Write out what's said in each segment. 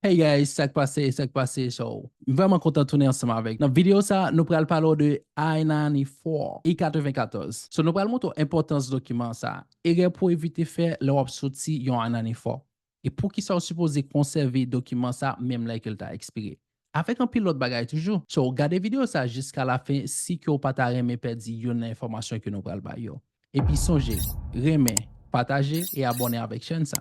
Hey guys sak pase sak pase so m vreman kontan tounen ansanm avek nan video sa nou pral pale w de I-94 I 94 so nou pral montre w enpotans dokiman sa erè pou w evite fè lè wap soti yon I-94 e poukisa w sipoze konsève dokiman sa menm lè ke l ta ekspire avek anpil lot bagay toujou so gade video sa jiska la fen si ke w pa ta renmen pèdi youn nan enfomasyon ke nou pral bay yo epi sonje renmen pataje e abone avek chèn sa.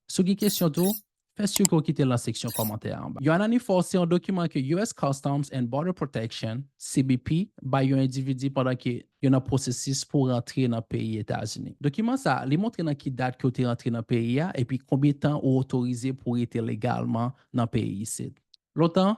Si w gen kesyon tou, fè sure ke w kite l nan seksyon kòmantè a anba. Yon ananifò se yon dokiman ke US. Customs and Border Protection, CBP, bay yon endividi pandan ke yo nan pwosesis pou rantre nan peyi Etazini. Dokiman sa a, li montre nan ki dat ke w te rantre nan peyi a epi konbyen tan ou otorize pou w rete legalman nan peyi isit. Lontan,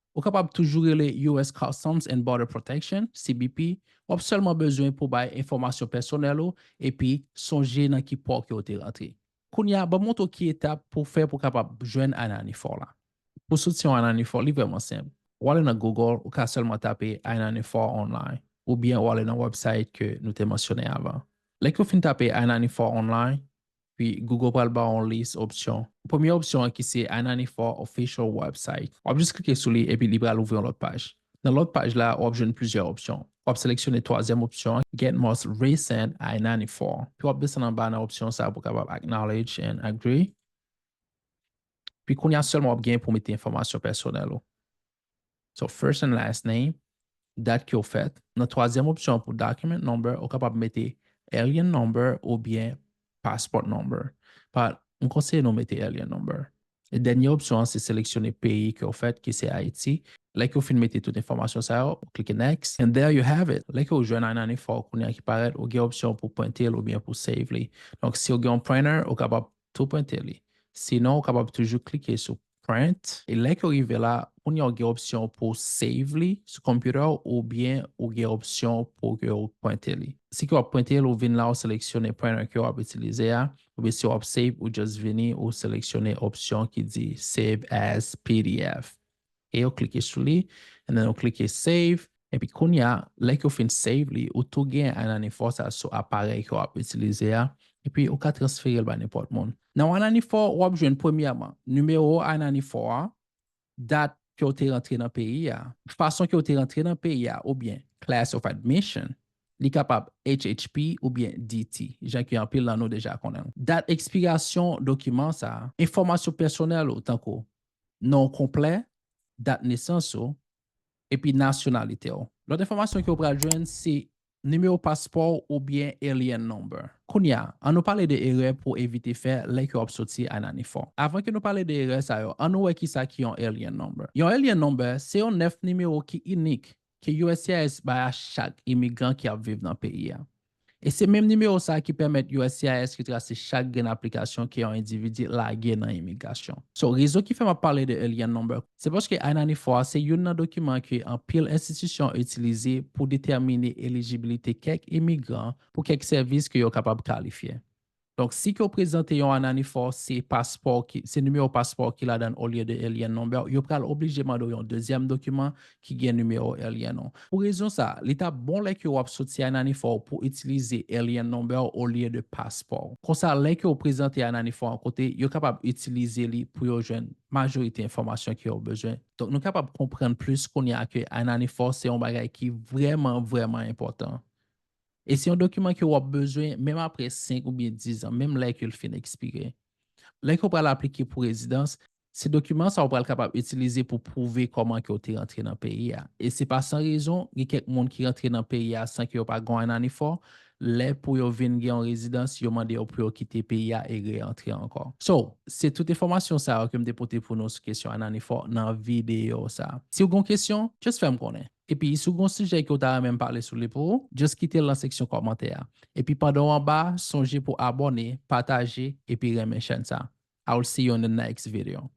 Ou kapab toujou rele US Customs and Border Protection, CBP, w ap sèlman bezwen pou bay enfòmasyon pèsonèl ou epi sonje nan ki pò ke w te rantre. Kounye a, ban m montre w ki etap pou w fè pou w kapab jwenn I-94 la. Pou w soti yon I-94, li vrèman senp. Ou ale nan Google, ou ka sèlman tape I-94 online, oubyen ou ale nan wèbsayt ke nou te mansyone avan. Lè ke w fin tape I-94 online, pi Google pral ba w yon lis opsyon. Premye opsyon an ki se i94 Official Website, w ap jis klike sou li epi li pral ouvri yon lòt paj. Nan lòt paj la, w ap jwenn plizyè opsyon. W ap seleksyone twazyèm opsyon an, Get Most Recent i94, pi w ap desann anba nan opsyon sa pou w kapab Acknowledge and Agree. Pi kounye a sèlman w ap gen pou w mete enfòmasyon pèsonèl ou. So first and last name, dat ke w fèt. Nan twazyèm opsyon an pou document number, ou kapab mete alien number oubyen passport number. But, m konseye nou mete alien number. E dènye opsyon an se seleksyone peyi ke w fèt ki se Ayiti. Lè ke w fin mete tout enfòmasyon sa yo, ou klike next and there you have it. Lè ke w jwenn I-94 w kounye a ki parèt, ou gen opsyon pou prente l oubyen pou save li. Donk, si w gen yon printer, ou kapab tou prente li. Sinon ou kapab toujou klike sou Print. E lè ke w rive la, kounye a ou gen opsyon pou w save li sou computer w oubyen ou gen opsyon pou ke ou prente li. Si ke w ap prente l, ou vin la ou seleksyone printer ke w ap itilize a, oubyen si w ap save ou just vini ou seleksyone opsyon ki di Save as pdf. e yo klike sou li and then yo klike save epi kounya lè ke w fin save li ou tou gen Ananifor sa sou aparèy ke w ap itilize a epi ou ka transfere l ba nenpòt moun. Nan Ananifor w ap jwenn premyèman nimewo Ananifor a, dat ke w te rantre nan peyi a, fason ke w te rantre nan peyi a oubyen class of admission, li kapab HHP oubyen DT jan ke anpil nan nou deja konnen l, dat ekspirasyon dokiman sa, enfòmasyon pèsonèl ou tankou non w konplè, dat nesans ou, epi nasyonalite w. Lòt enfòmasyon ke w pral jwenn se nimewo paspò w oubyen Alien Number. Kounye a, an nou pale de erè pou w evite fè lè ke w ap soti I-94. Avan ke nou pale de erè sa yo, an nou wè kisa ki yon Alien Number. Yon Alien Number se yon 9 nimewo ki inik ke uscis bay a chak imigran ki ap viv nan peyi a. E se menm nimewo sa ki pèmèt uscis retrase chak grenn aplikasyon ke yon endividi lage nan imigrasyon. So, rezon ki fè m ap pale de Alien Number, se paske I-94 a se youn nan dokiman ke anpil enstitisyon itilize pou detèmine elijibilite kèk imigran pou kèk sèvis ke yo kapab kalifye. Donk si ke w prezante yon ananifò se paspò w ki, se nimewo paspò w ki ladann olye de Alien Number w, yo pral oblije mande w yon dezyèm dokiman ki gen nimewo Alien w. Pou rezon sa, li ta bon lè ke w ap soti ananifò w pou itilize Alien Number w olye de paspò w. Konsa lè ke w prezante ananifò an kote, yo kapab itilize li pou yo jwenn majorite enfòmasyon ke yo bezwen. Donk nou kapab konprann plis kounye a ke ananifò se yon bagay ki vrèman vrèman enpòtan. E se yon dokiman ke w ap bezwen menm apre 5 oubyen 10 zan, menm lè ke l fin ekspire. Lè ke w pral aplike pou rezidans, se dokiman sa ou pral kapab itilize pou pwouve kòman ke w te rantre nan peyi a. E se pa san rezon, gen kèk moun ki rantre nan peyi a san ke yo pa gwan nanifò, lè pou yo vin gen yon rezidans, yo mande yo pou yo kite peyi a e re-antre ankò. So, se tout enfòmasyon sa yo ke m te pote pou nou sou kesyon ananifò nan videyo sa. Si w gen yon kesyon, just fè m konnen. Epi si w gen yon sijè ke w ta renmen m pale sou li pou ou, just kite l nan seksyon kòmantè a. Epi pandan w anba a, sonje pou abòne, pataje, epi renmen chèn sa. I will see you in the next video.